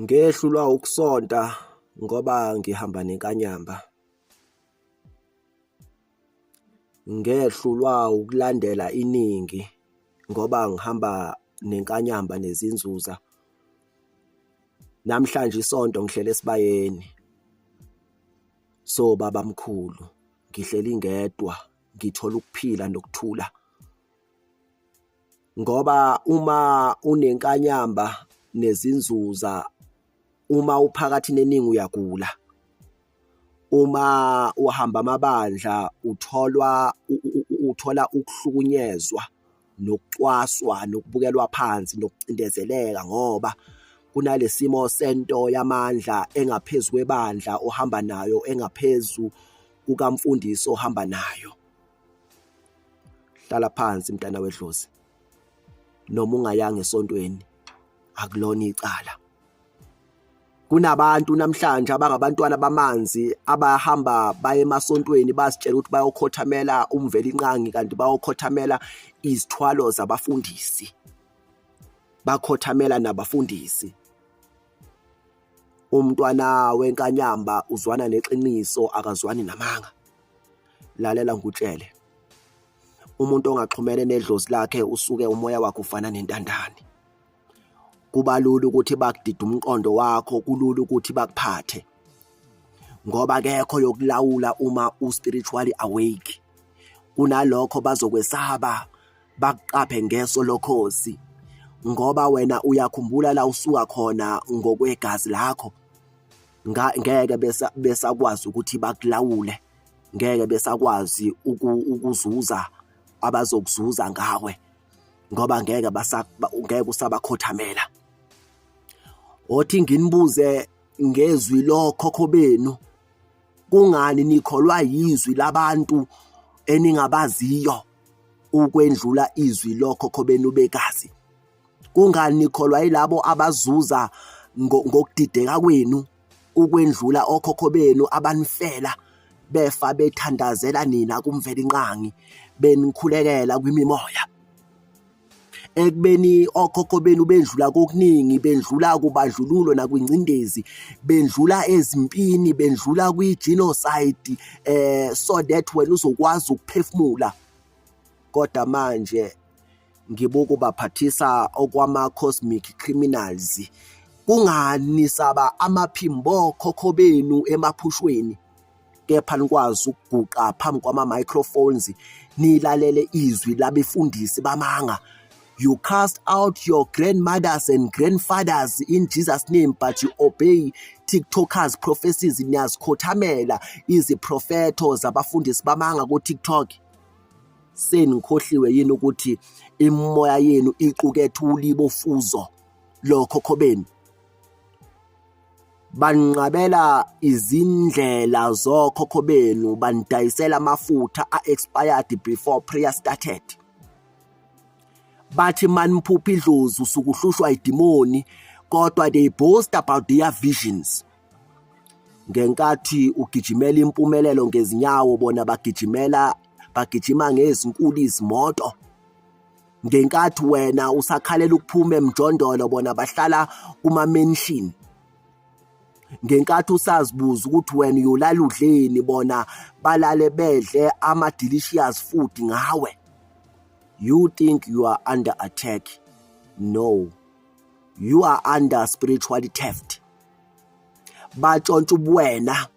Ngehlulwa ukusonta ngoba ngihamba nenkanyamba. Ngehlulwa ukulandela iningi ngoba ngihamba nenkanyamba nezinzuza. Namhlanje isonto ngihlele esibayeni. So baba mkhulu ngihleli ngedwa ngithola ukuphila nokuthula. ngoba uma unenkanyamba nezinzuza uma uphakathi neningi uyagula uma uhamba amabandla utholwa uthola ukuhlukunyezwa nokucwaswa nokubukelwa phansi nokucindezeleka ngoba kunalesimo sento yamandla engaphezulu kwebandla ohamba nayo engaphezulu kukamfundisi ohamba nayo hlala phansi mntana wedlozi noma ungayanga esontweni akulona icala kunabantu namhlanje abangabantwana bamanzi abahamba baye emasontweni bazitshela ukuthi bayokhothamela umveli inqangi kanti bayokhothamela izithwalo zabafundisi bakhothamela nabafundisi umntwana wenkanyamba uzwana neqiniso akazwani namanga lalela ngikutshele umuntu ongaxhumene nedlozi lakhe usuke umoya wakhe ufana nentandane kuba lula ukuthi bakudida umqondo wakho kulula ukuthi bakuphathe ngoba kekho yokulawula uma u-spiritually awake kunalokho bazokwesaba bakuqaphe ngeso lokhozi ngoba wena uyakhumbula la usuka khona ngokwegazi lakho ngeke besakwazi ukuthi bakulawule ngeke besakwazi ukuzuza abazokuzuza ngawe ngoba ngeke ngeke usabakhothamela othi nginibuze ngezwi lokhokho benu kungani nikholwa yizwi labantu eningabaziyo ukwendlula izwi lokhokho benu bekazi kungani nikholwa yilabo abazuza ngokudideka kwenu ukwendlula okhokho benu abanifela befa bethandazela nina kumvelinqangi benikhulekela kwimimoya ekubeni okhokho benu bendlula kokuningi bendlula kubadlululo nakwingcindezi bendlula ezimpini bendlula kwi-genocide eh so that wena uzokwazi ukuphefumula kodwa manje ngibokubaphathisa okwama-cosmic criminals kungani saba amaphimbo khokho benu emaphushweni kepha nikwazi ukuguqa phambi kwama-microphones nilalele izwi labefundisi bamanga you cast out your grandmothers and grandfathers in jesus name but you obey tiktokers prophecies niyazikhothamela iziprofetho zabafundisi bamanga kutiktok senikhohliwe yini ukuthi imimoya yenu iqukethe ulibofuzo lokho khobeni banqabela izindlela zokhokho benu banidayisela amafutha a-expired before prayer started bathi maniphupha idlozi usukuhlushwa idimoni kodwa they boast about their visions ngenkathi ugijimela impumelelo ngezinyawo bona bagijimela bagijima ngezinkulu izimoto ngenkathi wena usakhalela ukuphuma emjondolo bona bahlala kuma-mention ngenkathi usazibuza ukuthi wena uyolala udleni bona balale bedle ama-delicious food ngawe you think you are under attack no you are under spiritual theft batshontsha ubuwena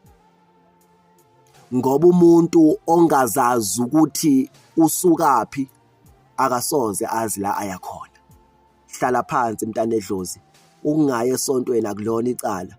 ngoba umuntu ongazazi ukuthi usukaphi akasoze azi la aya khona hlala phansi mntanedlozi ukungaye esontweni akulona icala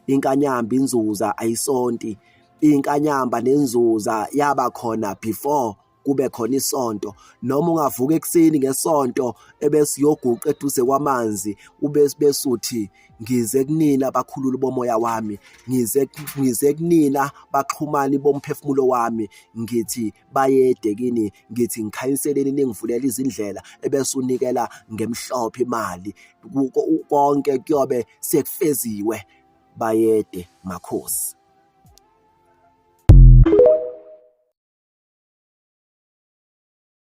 inkanyamba inzuza ayisonti inkanyamba nenzuza yaba khona before kube khona isonto noma ungavuka ekuseni ngesonto ebesiyoguqa eduze kwamanzi ubesuthi ngize kunina bakhulula bomoya wami ngize ngize kunina baxhumani bomphefumulo wami ngithi bayede kini ngithi ngikhanyiseleni ningivulela izindlela ebese unikela ngemhlophe imali konke kuyobe sekufeziwe bayede makhosi